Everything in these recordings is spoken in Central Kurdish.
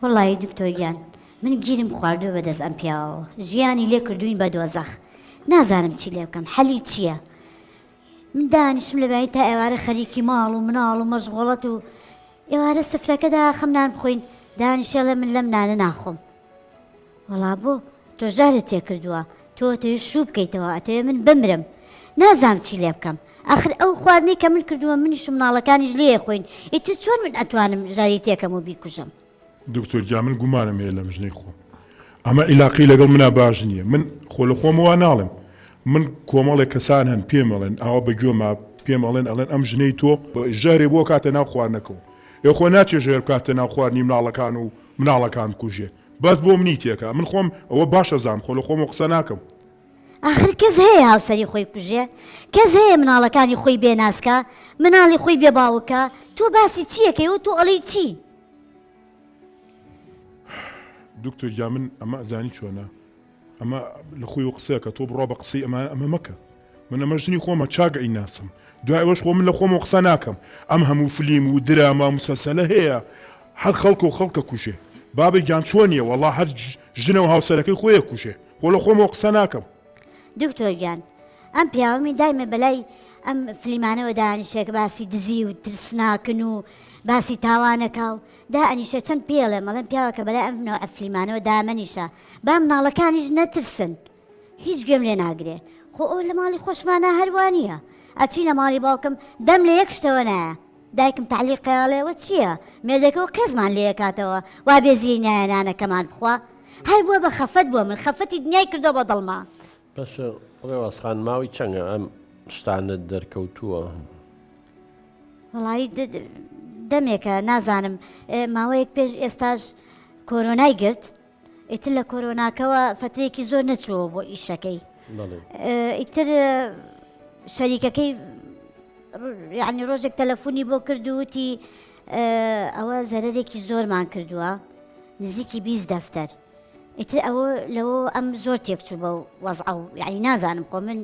وەڵایی دکتۆر گیان من گیرم خواردوە بەدەست ئەم پیاوەوە ژیانی لێ کردوین بە دۆزەخ نازانم چی لێ بکەم حەلی چییە من دانیشم لە بای تا ئێوارە خەریکی ماڵ و مناڵ و مەژغۆڵەت و ئێوارە سفرەکەدا خەم نان بخۆین دانیشێڵێ من لەم نانە ناخۆم وەڵا بۆ؟ تۆ ژەهرت تێکردووە، تۆ ئەتەوێ شوو بکەیتەوە، ئەتەوێ من بمرم، نازانم چی لێ بکەم، ئاخر ئەو خواردنەی کە من کردوومە منیش و مناڵەکانیش لێ ئەخۆین، ئیتر چۆن من ئەتوانم ژەهری تێکەم و بیکوژم؟ دکتۆر گیان من گومانم هەیە لەم ژنەی خۆم، ئەمە ئیلاقەی لەگەڵ منا باش نییە، من خۆ لە خۆمەوە ناڵێم، من کۆمەڵێک کەسان هەن پێم ئەڵێن، ئاوا بە گوێما پێم ئەڵێن، ئەڵێن ئەم ژنەی تۆ ژەهرێ بۆ کاتە ناو خواردنەکەو، ئێ خۆ ناچێ ژەهر بکاتە ناو خواردنی مناڵەکان و مناڵەکان بکوژێ. بەس بۆ منی تێکا من خۆم ئەوە باش ئەزام خۆ لە خۆمەوە قسە ناکەم. ئاخر کەس هەیە هاوسەری خۆی کوژێ؟ کەس هەیە مناڵەکانی خۆی بێ ناز کا؟ مناڵی خۆی بێ باوک کا؟ تۆ باسی چی ئەکەی و تۆ ئەڵێی چی؟ دکتۆر گیان من ئەمە ئەزانی چۆنە؟ ئەمە لە خۆی و قسەکە تۆ بڕا بە قسەی ئەمان ئەمە مەکە من ئەمە ژنی خۆمە چاک ئەی ناسم دوای ئەوەش خۆ من لە خۆمە قسە ناکەم ئەم هەموو فلیم و دراما و مسەسەلە هەیە هەر خەڵکە و خەڵکە کوژێ بابە گیان چۆنیە وەڵا هەر ژنە و هاوسەرەکەی خۆیە کوژێ خۆ لە خۆمەوە قسە ناکەم دکتۆر گیان ئەم پیاومی دایمە بەلای ئەم فلیمانەوە دانیشێک باسی دزی و ترسناکن و باسی تاوانەکە و دا ئەنیشە چەند پێڵێ مەڵێن پیاوەکە بەلای ئەم نەوە ئەفلیمانەوە دامەنیشە با مناڵەکانیش نەترسن هیچ گوێم لێ ناگرێ خۆ ئەو لە ماڵی خۆشمانە هەروانە ئەچینە ماڵی باوکم دەم لە یەک شتەوە نایە دایکم تعلیق قیاڵێەوە چییە مێردەکەەوە قێزمان لێ کاتەوە وا بێزیی نایە نانەکەمان بخوا هەر بووە بە خەفەت بووە من خەفەتی دنیای کردو بە دڵما بەش ڕێوازخان ماوەی چەنگە ئەم شتانە دەرکەوتووە وڵی دەمێکە نازانم ماوەیەک پێش ئێستاش کۆرۆنای گرت ئیتر لە کۆرۆناکەوە فترێکی زۆر نەچووە بۆ ئیشەکەی ئیتر شەریکەکەی یعنی ڕۆژێک تەلەفۆنی بۆ کردووتی ئەوە زەرەرێکی زۆرمان کردووە نزیکی بیست دەفتەر ئیتر ئەوە لەوە ئەم زۆر تێکچوو بە وەزع و یعنی نازانم خۆ من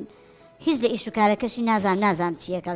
هیچ لە ئیش و کارەکەشی نازان نازانم چیەکە